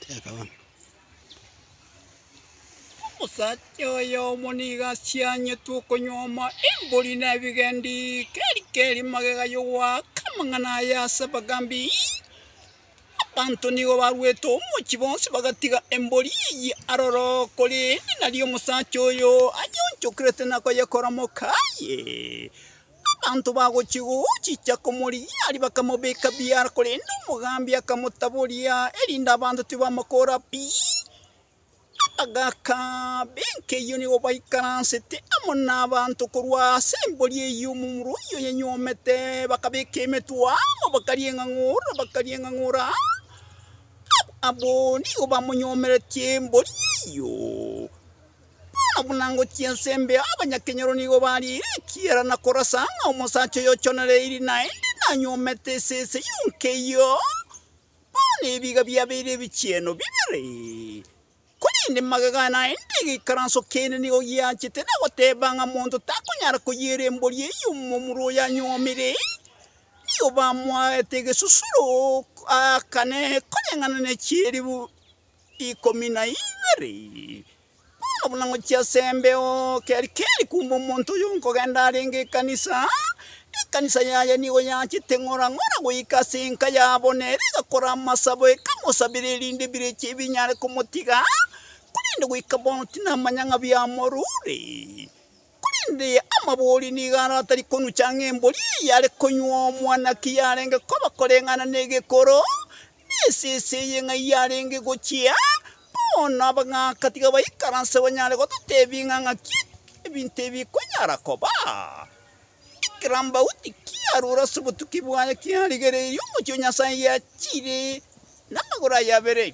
Teka bono. Omosacha oyomo nigo asianyetwe okonyuoma embori na ebigendi, keri keri magega y'ogoaka amang'ana aye ase abagambi. Abanto nigo baruete omochie bonsi bagatiga embori eye aroro, korende nario omosacha oyo ayeonchokerete na koyekora moka aye. Abanto bagochia gochicha komorigia aria bakamobeka biara, korende omogambi akamotaboria, erinde abanto tibamokoora pi. Abagaaka b'enkeyio nigo baikaransete amo nabanto korwa ase embori eyio omomura oyio oyanyuomete, bakabeka emetwe amo bakarienga ng'ora bakarienga ng'ora, abwo nigo bamonyuomeretie embori eyio. Bono buna ngochia ense mbe abanyakenyoro nigo bariire ekiara na korasa ng'a omosacha oyochonire eiri naende nanyuomete esese yonka eyio, bono ebiga biabeire ebichieno bibere. Korende magega aya naende egeikaranso kende nigo giachete na goteeba ng'a monto takonyara koyiira embori eyio omomura oyanyuomire, nigo bamoaete egesusuro, aakane koreng'ana ne chieribu. ikomi na ibere, bono buna ngochia ase embeo keri keri kumbe omonto oyo nkogenda arenge ekanisa, ekanisa yaye nigo yachete ng'ora ng'ora goika ase enka yabo, nere egakora amasabo ekamosabera erinde ebirecha ebi binyare komotiga, korende goika bono tinamanya ng'a biamorure. Korende amabori nigo aro atari konucha ng'a embori eye yare konywa omwanaki yarenge koba koreng'ana na egekoro, Esese eye ng'ai yarenge gochia, bono abagaaka tiga baikaranse banyare gototeebia ng'a ng'aki ebinto ebi bikonyara koba. Ekerambauti kiarure ase obotuki bwaye kiarigereirie omochie o Nyasae giachire namagoro aye abere.